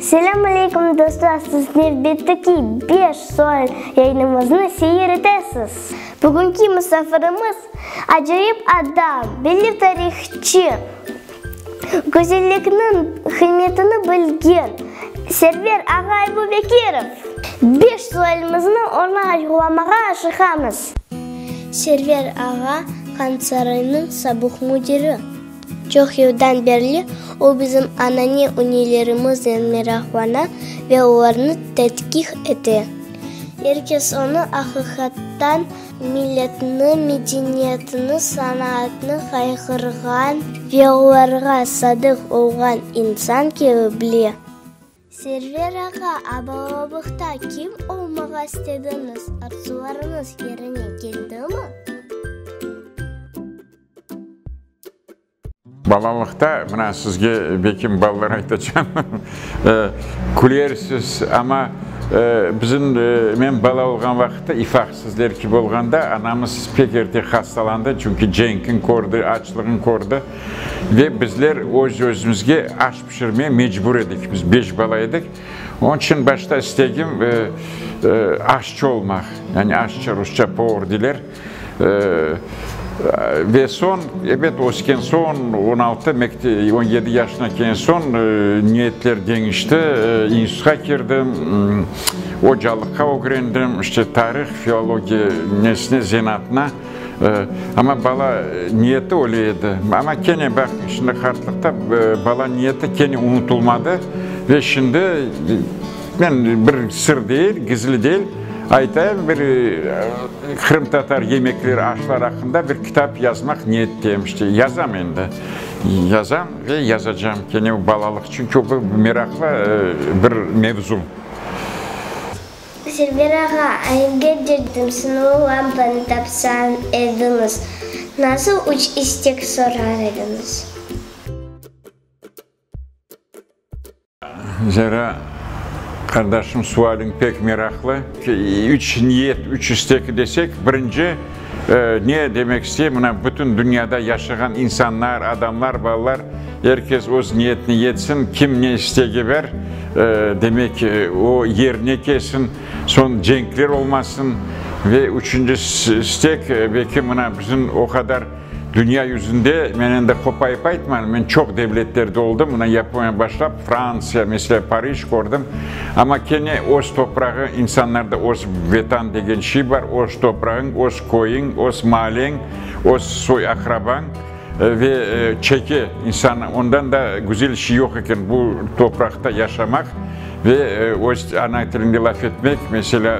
Selâm aleykum dostlar, siz nevbette ki beş sual yayınımıznı seyir etesiz. Bugünki musafirimiz, acayip adam, belli tarihçı, gözellikniñ qıymetini bilgen Server ağa Aybubekirov. Beş sualımıznı onı açıqlamağa aşıqamız. Server ağa, Qansaroynıñ sabuq müdiri. Çoq yıldan berli o bizim anane üneylerimiznen meraqlana ve olarnı tedqiq ete. Er kes onı aqiqattan milletni, medeniyetni, sanaatnı qayğırğan ve olarğa sadıq olğan insan kibi bile. Server ağa, abalabıqta kim olmağa istediñiz, arzularıñız yerine keldimi? Balalıqta, mına sizge Bekim balalar aytacam, külersiz, amma bizim, men bala olğan vaqıtta, İfaq sizler kibi olğanda, anamız pek erte hastalandı, çünki cenkni kördi, açlığın kördi, ve bizler öz-özümizge aş pişirmege mecbur edik, biz beş bala edik, onıñ içün başta istegim aşçı olmaq, yani aşçı, rusça, povr, deyler. Ve soñ, ebet, ösken soñ, on altı, on yedi yaşına kelgen soñ niyetler deñişti, institutqa kirdim, ocalıqqa ögrendim, işte, tarih, filologiya, nesne, zenaatına. Amma bala niyeti öyle edi. Amma kene, baq, şimdi qartlıqta bala niyeti kene unutulmadı ve şimdi, Men bir sır degil, gizli degil aytayım, bir qırımtatar yemekleri, aşlar aqqında bir kitap yazmaq niyetteyim. İşte, yazam endi, yazam ve yazacağım. Kene o balalıq, çünki o bir meraqlı bir mevzu. Server ağa, ayılge derdim, sınav lampanı tapsam ediñiz, nasıl üç istek sorar ediñiz? Zera, qardaşım, sualiñ pek meraqlı. Üç niyet, üç istek desek, birinci, ne demek isteyim, mına, bütün dünyada yaşağan insanlar, adamlar, balalar, er kes öz niyetini yetsin, kim ne istegi bar, demek, o yerine kelsin, soñ cenkler olmasın. Ve üçünci istek, belki, mına, bizim o qadar, Dünya yüzünde, men endi qopayıp aytmayım, men çoq devletlerde oldım, mına Yaponiyadan başlap, Frantsiya, meselâ, Parij kördim, amma kene öz toprağı, insanlarda öz Vetan degen şiy bar, öz toprağıñ, öz köyüñ, öz maalleń, öz soy-aqrabañ ve çeke insan, ondan da güzel şiy yoq eken, bu topraqta yaşamaq ve öz ana tiliñde laf etmek, meselâ,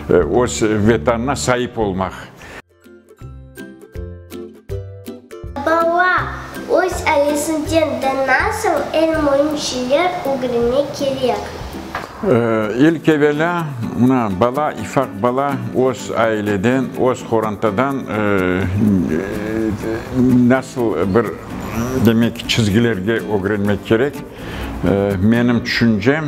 öz Vetanına saip olmaq. Bala, öz ailesinden de nasıl eñ müim şeyler ögrenmek kerek? İlk evelâ, mına, bala, ifaq bala öz aileden, öz qorantadan nasıl bir, demek, çizgilerge ögrenmek kerek. Menim tüşüncem.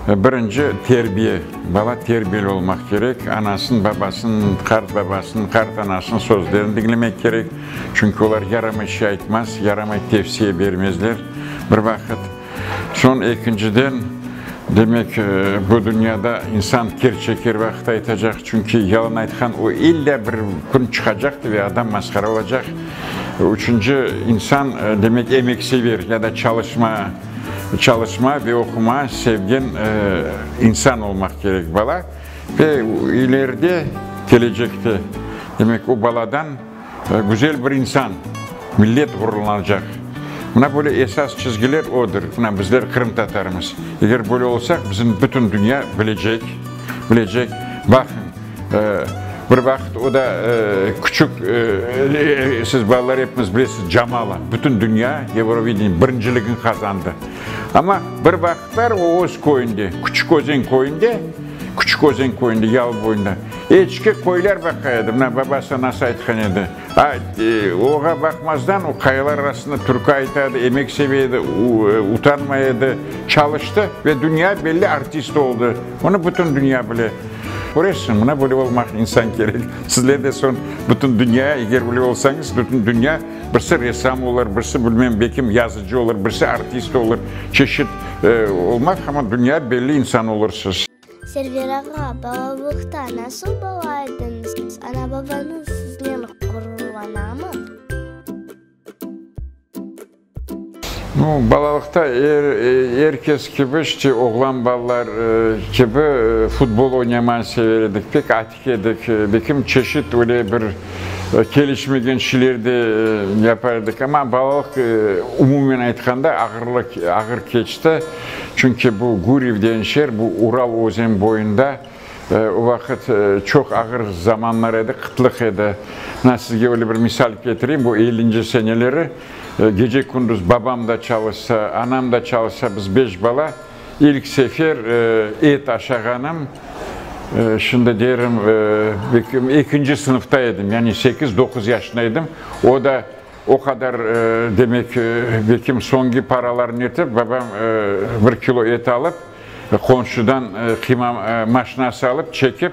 Birinci, terbiye. Bala terbiyeli olmaq kerek. Anasın, babasın, qart babasın, qart anasın sözlerini diñlemek kerek. Çünki olar yaramay şey aytmaz, yaramay tevsiye bermezler bir vaqıt. Soñ ekinciden, demek, bu dünyada insan kerçek her vaqıt aytacaq. Çünki yalan aytqan o illâ bir kün çıqacaqtır ve adam masqara olacaq. Üçünci, insan, demek, emeksever ya da çalışma. Çalışma ve oquma sevgen insan olmaq kerek bala. Ve ileride, kelecekte, demek, o baladan güzel bir insan, millet ğururlanacaq. Mına böyle esas çizgiler odır. Mına bizler qırımtatarımız. Eger böyle olsaq, bizim bütün dünya bilecek, bilecek. Baqıñ. Bir vaqıt o da küçük, siz balalar epimiz bilesiz, Jamala bütün dünya Eurovideniye birinciligini qazandı. Amma bir vaqıtlar o öz köyünde, Küçük Özen köyünde, Küçük Özen köyünde, Yalı boyunda, eçki, qoylar baqay edi. Mına babası, anası aytqan edi. Oğa baqmazdan, o qayalar arasında türkü aytadı, emek seve edi, utanmay edi. Çalıştı ve dünya belli artist oldı. Onı bütün dünya bile. Köresizmi, mına böyle olmaq insan kerek. Sizler de soñ bütün dünya, eger böyle olsañız, bütün dünya, birisi ressam olur, birisi, bilmem, belki yazıcı olur, birisi artist olur, çeşit olmaq, amma dünya belli insan olursız. Server ağa, balalıqta nasıl bala ediñiz? Ana-babañız siznen ğururlanamı? No, balalıqta er, er kes kibi, işte, oğlan balalar kibi futbol oynamay sever edik. Pek Edik, bekim çeşit öyle bir kelişmegen şeyler de yapa edik, amma balalıq, umumen aytqanda, ağırlı, ağır keçti. Çünki bu Guryev degen şeer, bu Ural özen boyunda, o vaqıt çoq ağır zamanlar edi, qıtlıq edi. Mına sizge öyle bir misal ketireyim, bu ellinci seneleri, gece-kündüz babam da çalışsa, anam da çalışsa, biz beş bala. İlk sefer et aşağanım, şimdi derim, ekinci sınıfta edim, yani sekiz-doquz yaşında edim. O da o qadar, demek, bekim soñki paralarım yetip, babam bir kilo et alıp, qonşudan qıyma maşinası alıp, çekip,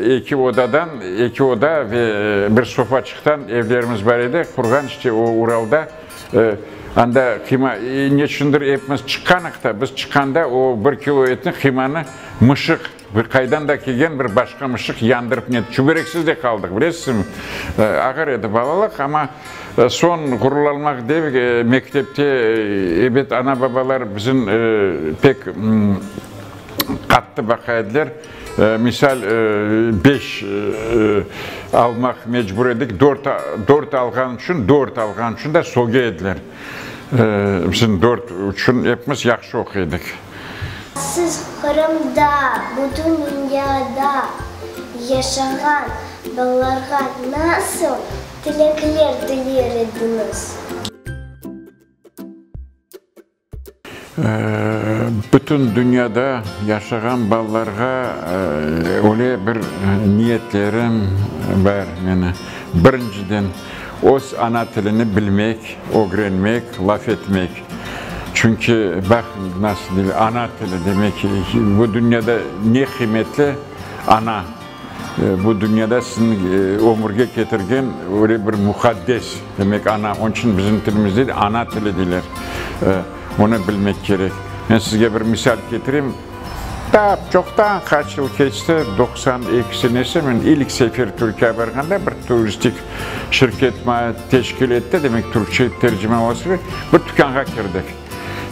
eki odadan, eki oda ve bir sofaçıqtan evlerimiz bar edi, qurğan işte o Uralda. Anda qıyma, neçündir epimiz çıqqanıq da, biz çıqqanda o bir kilo etni, qıymanı mışıq, bir qaydan da kelgen bir başqa mışıq yandırıp ne, çübereksiz de qaldıq, bilesizmi? Ağır edi balalıq, amma soñ ğururlanmaq dep mektepte, ebet, ana-babalar bizim pek qattı baqa ediler. Misal, beş almaq mecbur edik, dört, dört alğan içün, dört alğan içün de sogya ediler. Bizim dört içün epimiz yahşı oquy edik. Siz Qırımda, bütün dünyada yaşağan balalarğa nasıl tilekler tiler ediñiz? Bütün dünyada yaşağan balalarğa öyle bir niyetlerim bar meni. Birinciden, öz ana tilini bilmek, ögrenmek, laf etmek. Çünki, baqıñ, nasıl, ana tili demek, bu dünyada ne qıymetli, ana. Bu dünyada siziñ ömürge ketirgen öyle bir muqaddes, demek, ana. Onıñ içün bizim tilimizde de ana tili deyler. Onı bilmek kerek. Men sizge bir misal ketireyim. Tap çoqtan, qaç yıl keçti, doqsan eki senesi, men ilk sefer Türkiye barğanda bir turistik şirket maña teşkil etti, demek, türkçe tercime olası, bir tükânğa kirdik.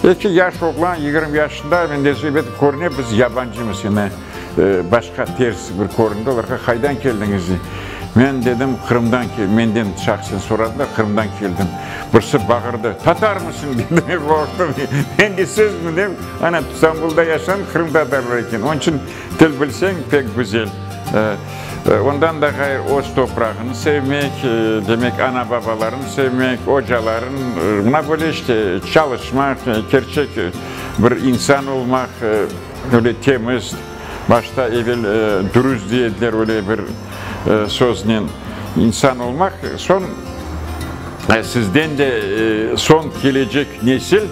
Eki yaş oğlan, yigirmi yaşında, mende zeb etip körüne, biz yabancımız, yani başqa, ters bir köründi olarğa, qaydan keldiñiz dey. Men dedim, Qırımdan keldim, menden şahsen soradılar, Qırımdan keldim. Birisi bağırdı, Tatarmısıñ? dedi, men qorqtım, endi siz mi, dem, ana, İstanbulda yaşam, Qırım tatarları eken, onıñ içün Til bilseñ pek güzel. Ondan da ğayrı öz toprağını sevmek, demek ana-babalarını sevmek, ocaların, mına böyle işte çalışmaq, kerçek bir insan olmaq, öyle temiz, başta evel dürüst diye ediler öyle bir söznen, insan olmaq, soñ sizden de soñ kelecek nesil.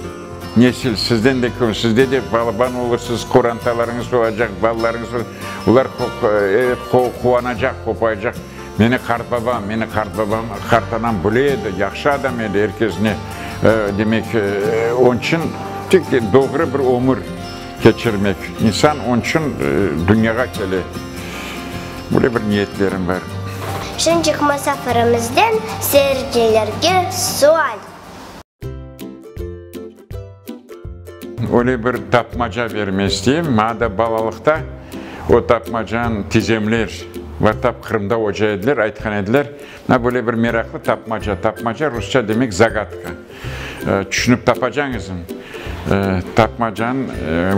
Nesil, sizden de köp, sizde de balaban olursiz, qorantalarıñız olacaq, balalarıñız olacaq, olar evet, quvanacaq, qopayacaq. Meni qartbabam, meni qartbabam, qartanam bile edi, yahşı adam edi, er kes ne, demek, onıñ içün tek doğru bir ömür keçirmek, insan onıñ içün dünyağa kele. Böyle bir niyetlerim bar. Şunıñ içün musafirimizden seyircilerge sual. Öyle bir tapmaca berme isteyim, maña da balalıqta o tapmacanı tizemler Vattap Qırımda oca ediler, aytqan ediler. Maña böyle bir meraqlı tapmaca, tapmaca rusça demek zagatka, tüşünip tapacañızmı? Tapmacanıñ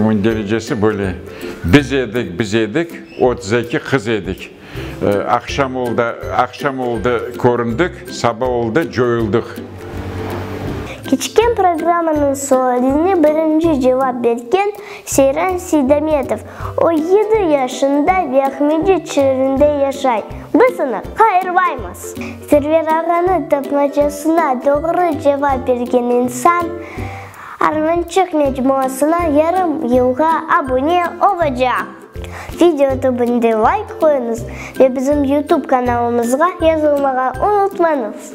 mündəricesi böyle, Biz edik, biz edik, otuz eki qız edik. Aqşam oldı, aqşam oldı, köründik, saba oldı, coyuldıq. Keçken programmanıñ sualine birinci cevap bergen Seyran Seydametov, o yedi yaşında ve Aqmecit şeerinde yaşay. Biz onı qayırmaymız. Server ağanıñ tapmacasına doğru cevap bergen insan Armançıq mecmuasına yarım yılğa abune olacaq. Video tübünde layk qoyuñız ve bizim YouTube kanalımızğa yazılmağa unutmañız!